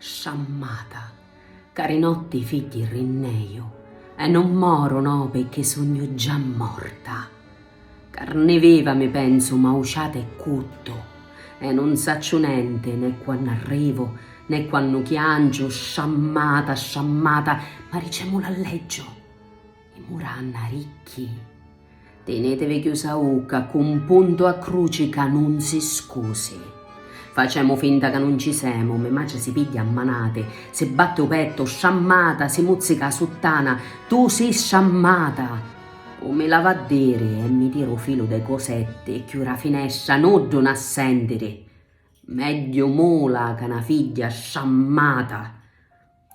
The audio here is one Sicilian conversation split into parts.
Sciammata, ca ri notti i figghi rinneju e non moru no pecchè sugnu già morta. Carni viva mi pensu mauciata e cuttu e non sacciu nenti né quannu arrivu né quannu chianciu, sciammata, sciammata, ma ricemulu alleggiu. I muranna ricchi. Tinetevi chiusa ucca cu un puntu a cruci ca nun si scusi. Facemu finta ca nun ci semu, me matri si pigghia a manati, si batti u pettu, strammata, si muzzica a suttana, tu si strammata! U mi lava a diri e mi tira u filu de cosetti e chiura a finestra, nuddu na sentiri! Megghiu mula ca na figghia strammata!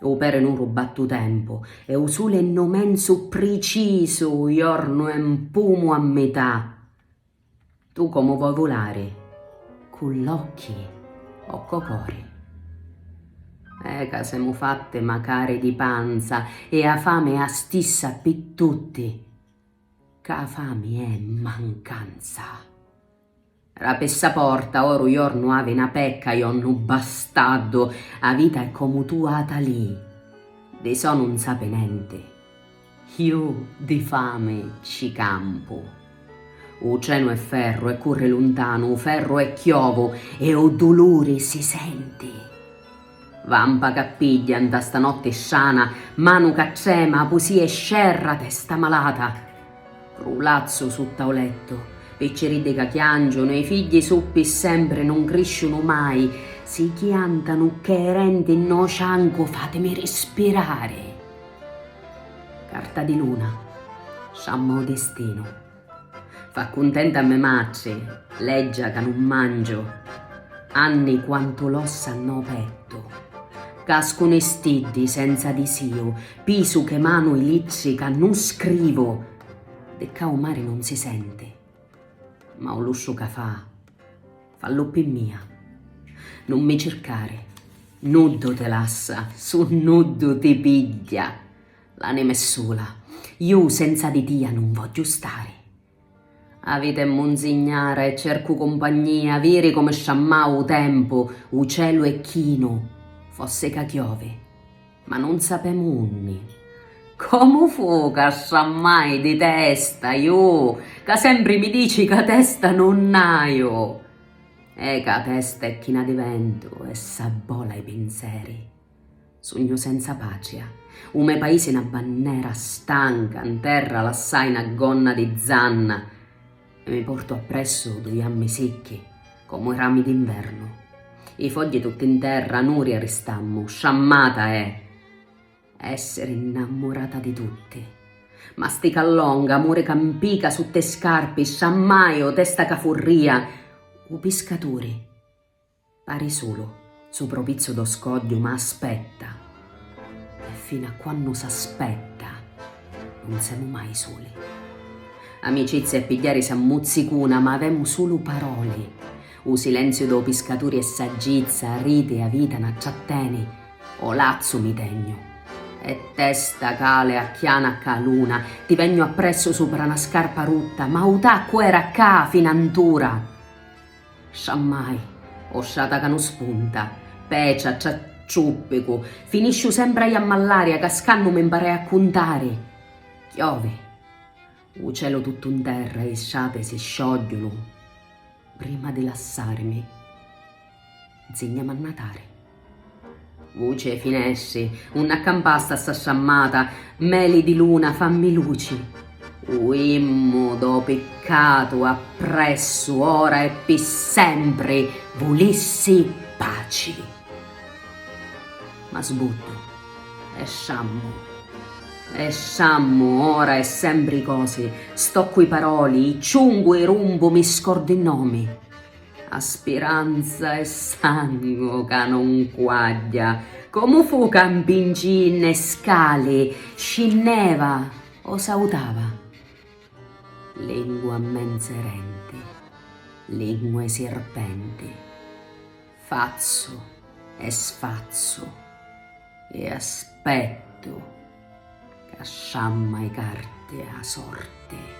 U pere nuru batti u tempu e u suli è no menzu pricisu u jornu è mpumu a mità tu comu voi vulari cu l'occhi o co cori e ca semu fatti macari di panza e a fami è a stissa pi tutti ca a fami è mancanza. Ra pessa porta oru jornu avi na pecca iò nu bastaddu a vita è comu tu ata li di so nun sapi nenti iu di fami ci campu u trenu è ferru e curri luntanu u ferru è chiovu e u duluri si senti. Vampa ca pigghia nta sta notti strana, manu ca trema, pusì e scerra, testa malata. Ru lazzu sutta o lettu. Picciriddi ca chiangiunu, i figghi su pi sempri nun crisciunu mai, si chiantanu cc'è renti nnô ciancu fatimi rispirari. Carta di luna. Sciamma o distinu. Fa cuntenta me matri, leggia ca nun mangiu, anni quantu l'ossa nnô pettu. Cascunu i stiddi senza disiu, pisu che manu i littri ca nun scrivu. Di ccà u mari nun si senti, ma u lussu ca fa, fallu pi mia. Nun mi circari, nuddu ti lassa, su nuddu ti pigghia. L'anima è sula, ju senza di tia nun vogghiu stari. A vita è munzignara e cercu cumpagnia, viri comu sciammau u tempu, u celu è chinu, fossi ca chiovi, ma nun sapemu unni. Comu fu ca sciammai di testa, ju ca sempri mi dici ca testa nun haiu? E ca testa è china di ventu e s'abbola i pinseri. Sugnu senza patria. U me paisi è na bannera stanca, 'n terra lassai na gonna di zanna e mi portu appressu dui ammi sicchi comu i rami d'invernu. I fogghi tutti 'n terra, nuri aristammu, sciammata è essiri 'nnammurata di tutti. Mastica longa, muri ca 'mpica sutta i scarpi, sciammaiu, testa ca furria, u piscaturi. Pari sulu, supra 'u pizzu d' 'o scogghiu ma aspetta! E finu a quannu s'aspetta nun semu mai suli. Amicizia è pigghiarisi a muzzicuna ma avemu sulu paroli. U silenziu d' 'o piscaturi è saggizza, ariti, 'a vita na tratteni. 'o lazzu mi tegnu. E testa cale a chiana ca luna, ti vegnu appressu supra na scarpa rutta ma 'u taccu era ccà fina 'ntura! Sa mai, o sciata ca nun spunta, pecia, ciacciuppicu, finisciu sempra i a mallaria cascannu mi mparai a cuntari. Chiovi. U celu tuttu 'n terra e i sciati si sciogghiunu prima di lassarimi. Nzignami a natari. Vuci 'e finestri, unni accampasta sta strammata, meli di luna, fammi luci. Uimmu dô piccatu appressu ora e pi sempri, vulissi paci. Ma sbuddu, esciammu, esciammu, ora e sempri i cosi, stoccu i paroli, i ciungu, i rumbu, mi scordu i nomi. A spiranza è sangu ca non quagghia. Comu fu ca 'mpingì nne scali, scinneva o sautava? Lingua mmenzerenti, lingua 'e sirpenti, fazzu e sfazzu e aspettu ca sciamma 'i carti 'a sorti.